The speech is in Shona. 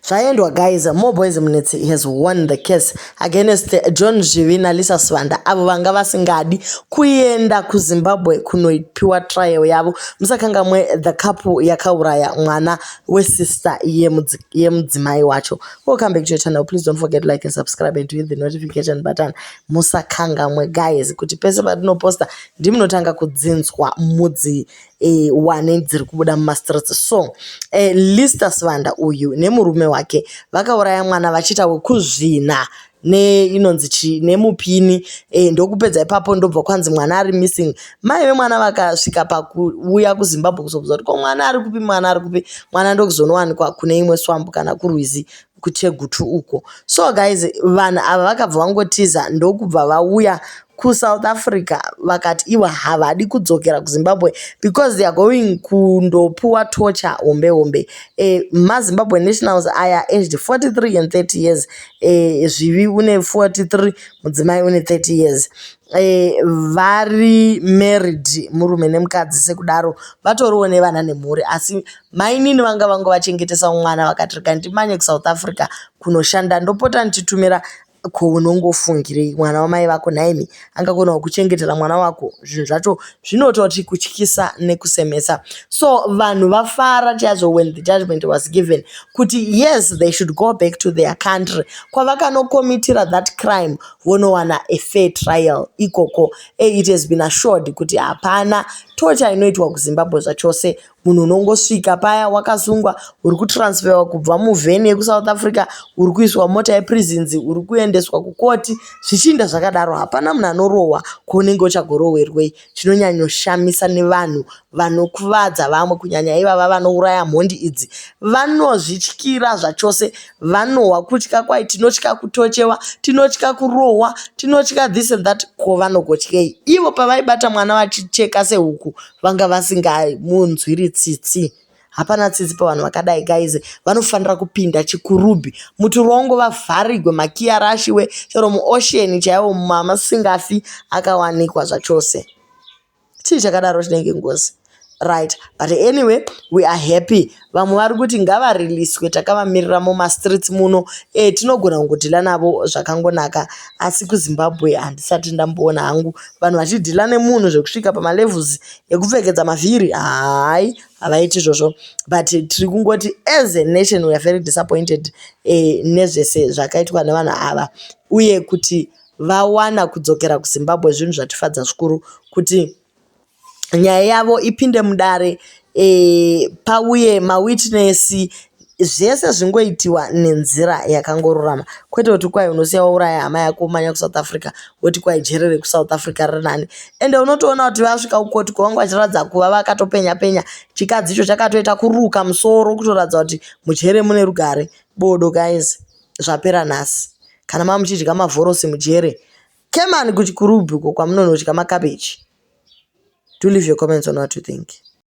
zvaendwa guys more boys minutes has won the case against john zvivi nalisa sivanda avo vanga vasingadi kuenda kuzimbabwe kunopiwa trial yavo musakangamwe the couple yakauraya mwana wesister yemudzimai wacho welcome back to your channel please don't forget like and subscribe and hit the notification button musakangamwe guys kuti pese patinoposta ndimunotanga kudzinzwa mudzi e, wane dziri kubuda mumastreets so e, lister sivanda uyu nemurume wake vakauraya mwana vachiita wekuzvina ne inonzi chi nemupini e, ndokupedza ipapo ndobva kwanzi mwana ari missing mai vemwana vakasvika pakuuya kuzimbabwe kuzobvunza kuti ko mwana ari kupi mwana ari kupi mwana ndokuzonowanikwa kune imwe swambu kana kurwizi kuThegutu uko. So guys vanhu ava vakabva vangotiza ndokubva vauya kuSouth Africa vakati ivo havadi kudzokera kuZimbabwe because they are going kundopuwa torture hombe hombe. Eh, maZimbabwe nationals aya aged 43 and 30 years. Eh, Zvivi une 43, mudzimai une 30 years. Eh, vari married murume nemukadzi sekudaro vatoriwo nevana nemhuri asi Mainini vanga vangovachengetesa mwana vakati rega ndimanye kuSouth Africa kunoshanda ndopota ndichitumira ko unongofungirei mwana wamai vako nhaimi angagona kukuchengetera mwana wako zvinhu zvacho zvinototi kutyisa nekusemesa so vanhu vafara chaizvo when the judgment was given kuti yes they should go back to their country kwavakanokomitira that crime vonowana a fair trial ikoko e it has been assured kuti hapana tocha inoitwa kuzimbabwe zvachose Munhu unongosvika paya wakasungwa uri kutransferwa kubva muvhen yekuSouth Africa uri kuiswa mota yeprisons uri kuendeswa kukoti zvichiinda zvakadaro. Hapana munhu anorohwa kwaunenge uchagorohwerwei. Chinonyanyoshamisa nevanhu vanokuvadza vamwe kunyanya ivava vanouraya mhondi idzi vanozvityira zvachose. Vanohwa kutya kwai tinotya kutochewa, tinotya kurohwa, tinotya this and that ko vanogotyei. Ivo pavaibata mwana vachicheka sehuku vanga vasingamunzwiri tsitsi hapana tsitsi pavanhu vakadai guys vanofanira kupinda chikurubhi mutirongo vavharigwe makiyi arashiwe chero muocean chaiwo mamasingafi akawanikwa zvachose chii chakadaro chinenge ngozi right but anyway we are happy Vamwe vari kuti ngavariliswe takavamirira mumastreets muno eh, tinogona kungodhila navo zvakangonaka asi kuzimbabwe handisati ndamboona hangu vanhu vachidhila nemunhu zvekusvika pamalevels ekupfekedza mavhiri hayi havaiti izvozvo but tiri kungoti as a nation weare very disappointed eh, nezvese zvakaitwa nevanhu ava uye kuti vawana kudzokera kuzimbabwe zvinhu zvatifadza zvikuru kuti nyaya yavo ipinde mudare e, pauye mawitness zvese zvingoitiwa nenzira yakangorurama kwete kuti kwai unosiya wauraya hama yako umanya kusouth africa woti kwai jere rekusouth africa riri nani ende unotoona kuti vasvika kukoti kwavanga vachiratidza kuva vakatopenya penya chikadzi icho chakatoita kuruka musoro kutoratidza kuti mujere mune rugare bodo guys zvapera nhasi kana mamuchidya mavhorosi mujere Kemani kuchikurubhi uko kwamunonodya makabeji. Do leave your comments on what you think.